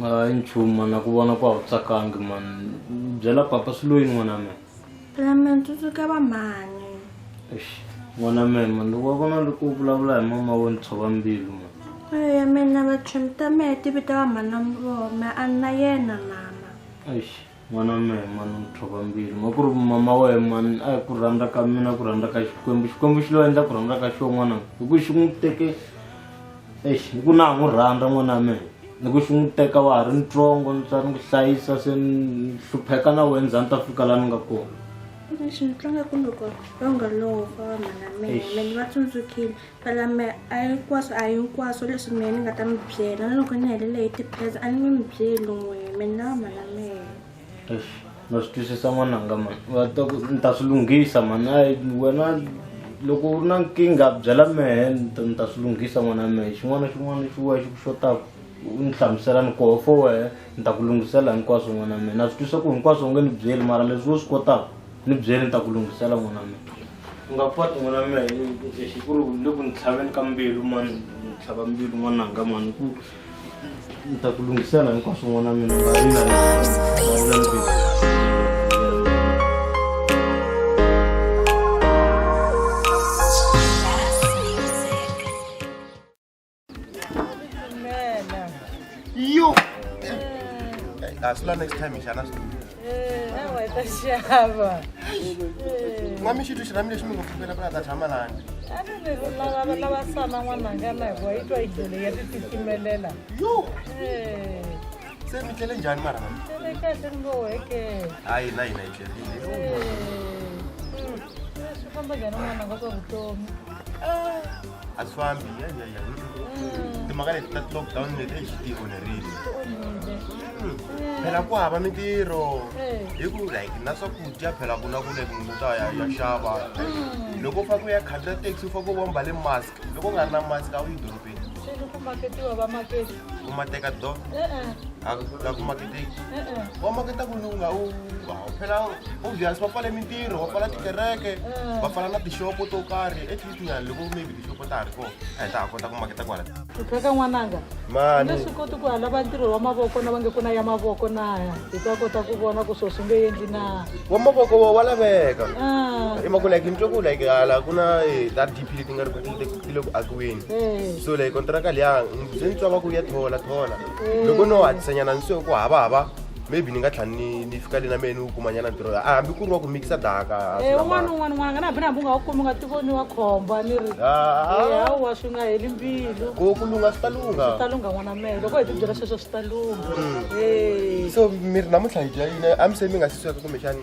hayi nchumu mana ku vona ku a wu tsakangi mani byela papa swi loyi n'wana mina phela mina ni tsundzuka va mhani Eish, n'wana mina mani loko wa vona loko u vulavula hi mama wo ni tshova mbilu mani eya mina vachumi ta mehe ti vita va mhani wa muroma a ni na yena mama Eish, n'wana wa mehe mani mutlhova mbilu ma ku ri mama wa ye mani a hi ku rhandza ka mina ku rhandza ka xikwembu xikwembu xi lo endla ku rhandza ka xo n'wana hi ku xi n'wi teke ex hi ku na ha n'wi rhandza n'wana wa mehe ni ku xi n'wi teka wa ha ri ntsongo ni tswa ni ku hlayisa se ni hlupheka na wena za ni ta fika laha ni nga kona lexi ni tlanga ku loko va nga lova mhana mina mina ni va tsundzukile Palambe a hinkwaswo a hinkwaswo leswi mina ni nga ta mi byela na loko ni helele hi tipheza a ni nge mi byeli n'we mi ni lava mhana mehe Eish, na swi twisisa n'wananga mani va ta ku ni ta swi lunghisa mani ayi wena loko u ri na nkingha byela mehe ni ta- ni ta swi lunghisa n'wana mehe xin'wana na xin'wana xi wehe xi ku xotaka u ni hlamusela ni koho fo wehe ni ta ku lunghisela hinkwaswo n'wana mehe na swi twisa ku hinkwaswo u nge ni byeli mara leswi wo swi kotaka ni byeli ni ta ku lunghisela n'wana mehe u nga kwati n'wana mina hi ku ri u le ku ni tlhaveni ka mbilu mani ni tlhava mbilu n'wananga mani ku ni ta ku lunghisela hinkwaswo n'wana mina nga rila yo asila next time xana xava n'wami xitwi xi rami lexi mi nga pfukela va ta tshama lani lava sana n'wananga na hikuva yi twa idole ya titikimelela yo se mi tlele njhani mara mami tlele kahle ni ngo weke hayi na hina yi tlele swi famba njhani n'wananga swa vutomi asifambi ya ya ya timhaka leti ta lockdown leti eyi xi tionerile phela ku hava mintirho hi ku like na swakudya phela ku na ku like munhu ta ya ya xava loko u fake u ya khandziya taxi u fake u vomba le mask loko u nga ri na mask a wu yi dorobeni u mateka do la ku maketeki wa maketa ku ni u nga u phela obvious va pfale mintirho va pfala tikereke va pfala na tixopo to karhi ya loko maybe tixopo ta ha ri kona a hi ta ha kota ku maketa kwala eka n'wananga mani swi koti ku halava ntirho wa mavoko na va nge ku na ya mavoko na hi ta kota ku vona ku swo swi nge endli na wa mavoko wa wa laveka ah. i maku like ni twe ku like hala ku na eh, ta dp leti nga ri ku ti le ku akiweni eh. so like kontraka liya ndzi ni twa va ku ya thola thola eh. loko no hatlisanyana ni swe ku hava hava maybe ni nga tlhela ni ni fika le na mehe ni wu kuma nyana ntirho a hambi ku ri wa ku mikisa daka Eh, un'wana na un'wana n'wana nga na hambi na hambi u nga wu kumi u nga tivoni wa khomba ni ri hawa swi nga heli mbilu ku ku lungha swi ta lungha swi ta lungha n'wana mehe loko hi tibyela sweswo swi ta lungha Eh. so mi ri namuntlha hi dya yini a mi se mi nga si sweka kumbexani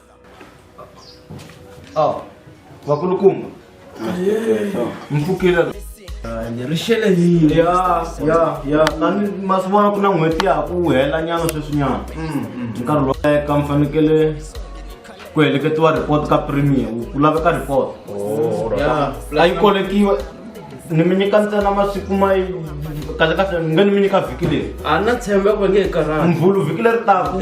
Ah, vakulukumba mpfukile ni ri xele yini ya ya ya tani masiku vona ku na n'hweti ya ha ku hela nyana sweswinyana nkarhi lowu eka mi fanekele ku heleketiwa report ka premier ku laveka report ya a yi kolekiwa ni mi nyika ntsena masiku ma yi kahle kahle ni nge ni mi nyika vhiki leri a na tshemba ku nge karhati mvhulu vhiki leri taku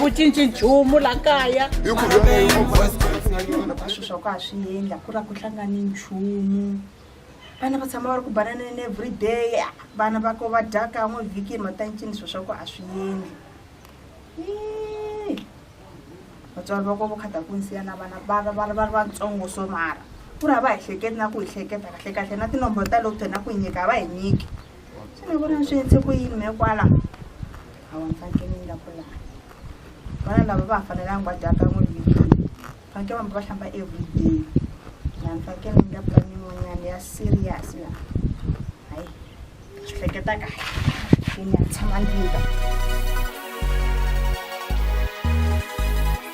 ku cinci nchumu la kaya swilo swa ku a swi endla ku ra ku hlangani nchumu vana va tshama va ri ku bananeni every day vana va ko va dya kan'we vhikini matancini swilo swa ku a swi endli vatswari va ko vo khata ku nsiya na vana va va va ri vatsongo so mara ku ri a va hi hleketi na ku hi hleketa kahle kahle na tinomboro ta loko tena ku hi nyika a va hi nyiki xana vona swi yetse ku yini me kwala a wa mfakenila kwala vana lava va fanelanga va dyaka n'we vhikini faneke vambi va hlamba everyday la mfakeni nga pani yin'wanyana ya serious la hayi swi hleketa kahle ke ni ya tshama ndlini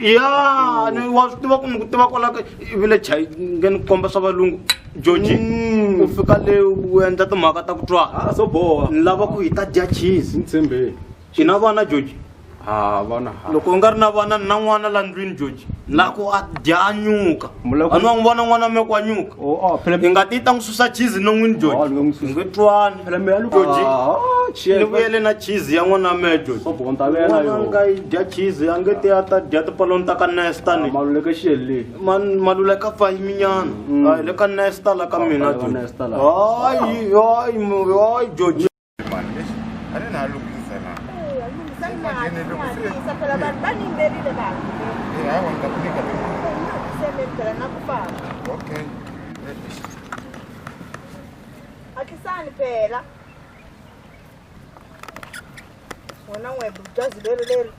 ya ni wa swi tiva ku ni ku tiva kwalaka vile chai nge ni komba swa valungu georgi Mm. u fika le u endla timhaka ta ku twa a swo boha ni lava ku hi ta dya cheese ni tshembeni hi na vana georgi ha vana ha loko u nga ri na vana ni na n'wana la ndlwini georgi ni lava ku a dya a nyuka Mu lava ku- a ni wa n'wi vona n'wana wa me ku a nyuka Oh, oh, phela hi nga ti ta n'wi susa cheese non'wini Oh, loko n'wi susa. joji twani phela mehe loko Joji. Ah, ni cheers. vuyele na cheese ya n'wana mehe joji Swa bonta vela n'wana yo. nga yi dya cheese a nge te a ta dya tipaloni ta ka nesta ni Maluleke xiyelile. Man- maluleka pfa yiminyana Mm. Hayi, le ka nesta la ka mina Pfa, le ka Joji. Nesta la. hayi hayi mu- hayi joji akisani phela wena n'we bujazi leri leri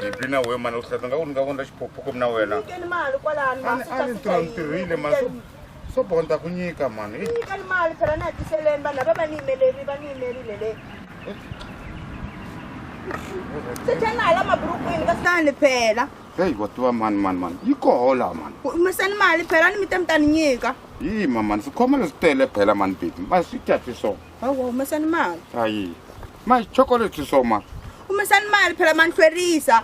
bibi ah, na wena mani u hlata nga ku ni nga vona xiphophuko mi na wena mali kwalani masitirhitirhile masiku swo bonta ku nyika mhani ni nyika ni mali phela na hatiseleni vanhu lava va ni yimeleri va ni yimerile le sechani na hala maburukwini ka sani phela heyi wa tiva mani mani mani yi kohola mani humesani mali phela ni mi te mi ta ni nyika yi ma mani swikhoma leswi tele phela mani bibi ma swi tya swi swo hawa humesani mali ayi ma chokolate swi swo ma humesani mali phela ma ni hlwerisa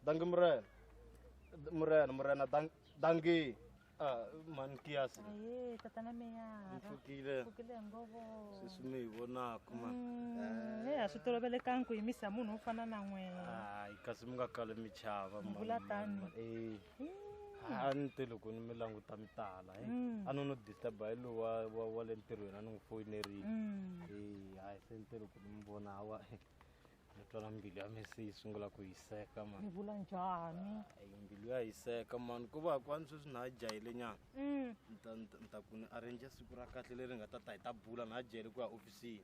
dangi murena murena murena dang- dangi Ah, mani kiyasi Aye, tata na meyara. Mfukile. Mfukile ngovo. sesi mi hi vonaka ma Mm, eh, a swi tolovelekangi ku yimisa munhu wo fana na n'wina hayi kasi mi nga kale mi chava ma- Mvula ma- tani. ma- eh. Ah, a ni te loko ni mi languta mi tala eh. Mm. a no no disturba hi lowu wa- wa wa le ntirhweni a ni n'wi foyinerile Mm. Eh, hayi se ni te loko ni mi vona hawa Ni twa na mbilu ya mina se yi sungula ku hiseka mani. Ni vula njhani? Ay, mbilu ya hiseka mani ku va kwani sweswi na jahile nyana Mm. Ni ta- ni ta- ni ta ku ni arrange siku ra kahle leri nga ta ta hi ta bula na jahile ku ya ofisini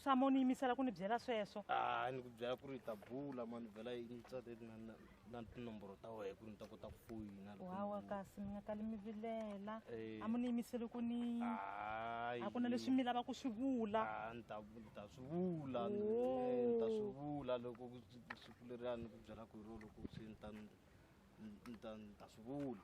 Samo ni yimisela ku ni byela sweswo. a ni ku byela ku ri hi ta bula mani vhela yi ni tswateti na na- na tinomboro ta wena ku ri ni ta kota ku foyina wawa kasi mi nga kali mi vilela eh. a mi ni yimiseli ku ni a ku na leswi mi lava ku swi vula ah, ni ta swi vula ni oh. ta swi vula loko siku leriyani ku byela ku hi ro loko swi ni ta ni ta swi vula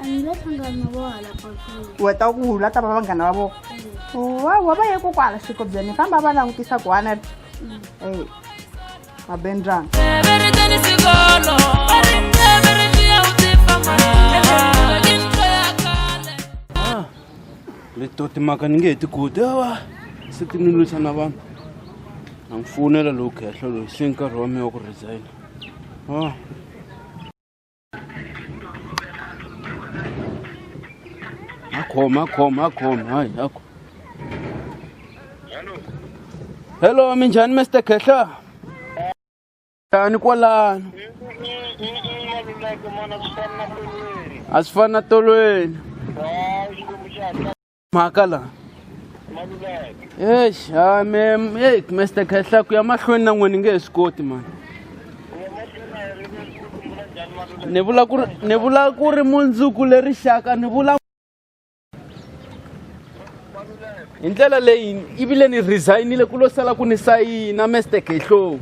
a ni lo hlangana vo hala pakulu wa ta ku la ta va vanghana va vona mm. wa wa va ye ko kwala xikobyeni famba va langutisa ku wana ri mm. e va bendrani ah, leto timhaka ni nge he tikuti awa se ti ni lwisa na vanhu a ni fowunela lowu khehla loyi se nkarhi wa mina wa ku resigna ah. akhoma akhoma akhoma hayi akho hello minjhani mr khehla njhani kwalano a swi fani na tolweni makala eish ha me ei mester khehla ku ya mahlweni na n'wini nge he swi koti mani ni vula ku ri ni vula ku ri mundzuku le rixaka ni vula hi ndlela leyi i vile ni resignile ku lo sala ku ni sayina mester khehlowu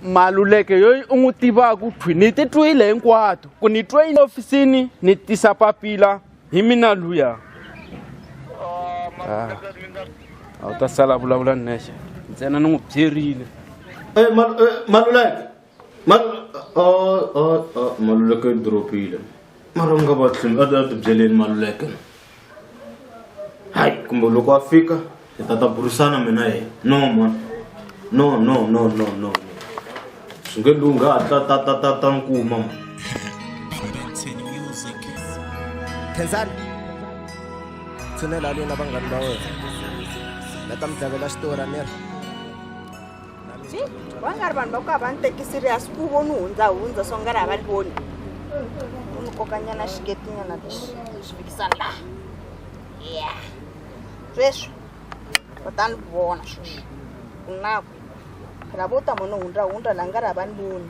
maluleke yoyi u n'wi tivaka u thwi ni titwile hinkwato ku ni twe ofisini ni tisa papila hi mina luya ah. a wu ta sala vulavula nexe ntsena ni n'wi byerile eh, eh, maluleke maluleke i dropile mara u nga va tlhimi a ti byeleni maluleke Hai, kumbe loko a fika hi ta ta burisana mina yena no mwana no no no no no swi nge lungha a ta ta ta ta ta ni kuma mwana khensani tshinela lina vanghani va wena na ta mi tlhavela xitori a ni ri va nga ri vanhu va ku a va ni teki serious ku vo ni hundza hundza so nga ri a va ni voni u ni kokanyana xiketinyana lexi xi fikisa laha ya sweswi va ta ni vona sweswi ku na ku phela vo ta mo ni hundza hundza laha nga ri a va ni voni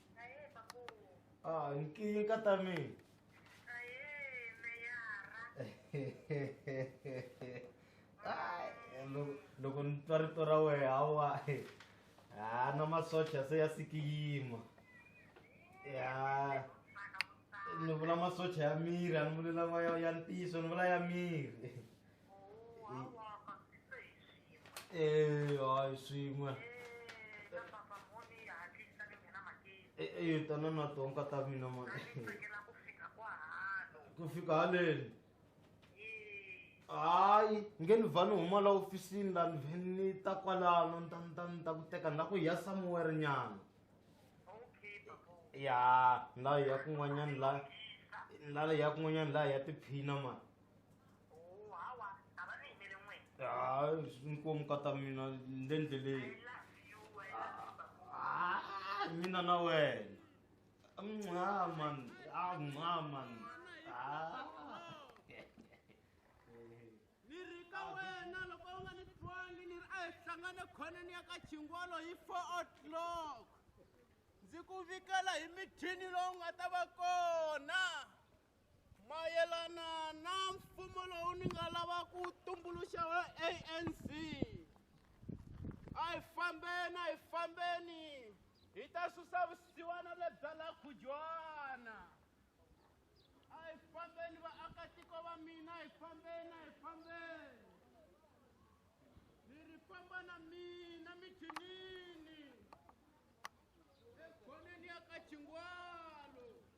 Ahee makulu. Ah, nki ka ta mi. Ahee meyara. Ai, loko loko ni twa rito ra wehe hawa. Ah, na masocha se ya sikiyima. Ya. Ni vula masocha ya miri, a ni vuli lama ya ya ntiyiso, ni vula ya miri. Eh, hayi swin'we Eh, eh, tana na tonka ta mina mani ku fika haleni hayi nge ni vha ni huma la ofisini la ni vhe ni ta kwalano ni ta ni ta ni ta ku teka ni la ku ya somewhere nyana ya ni la ya kun'wanyani la ni la ya kun'wanyani la ya tiphina mani Oh, hawa a va ni yimele n'wina Ah, inkomu kata mina le ndleleni i love you i love you babu Ah, mina na wena mnca man ah mnca man ah ni ri ka wena loko u nga ni twangi ni ri a hi hlangane khoneni ya ka chingolo hi four o'clock ndzi ku vikela hi mithini lowu nga ta va kona mayelana na mfumo lowu ni nga lava ku tumbuluxa wa anc a hi fambeni a hi fambeni hi ta susa vusiwana lebya la khujwana a hi fambeni vaakatiko va mina a hi fambeni a hi fambeni ni ri famba na mina mithinini ekhoneni ya ka chingwalo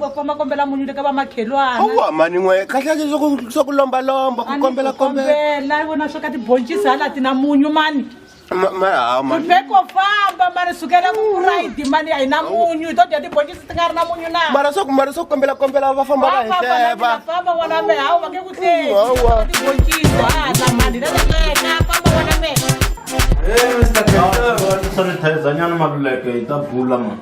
va famba kombela munyu le ka vamakhelwana awu hamani n'we kahleke swa ku lombalomba ku kombela kombela vona swo ka tiboncisi hala ti na munyu mani maveko famba mani sukela kuraidi mani a hi na munyu to dya tiboncisi ti nga ri na munyu na mara swaku mara swaku kombela kombela va famba va hihleva famba wona me hawu va nge ku tiboncisi hala mani leleleka famba wona me Hey, Mr. President. Sorry, Tayzanyana Maluleke, ita bula man.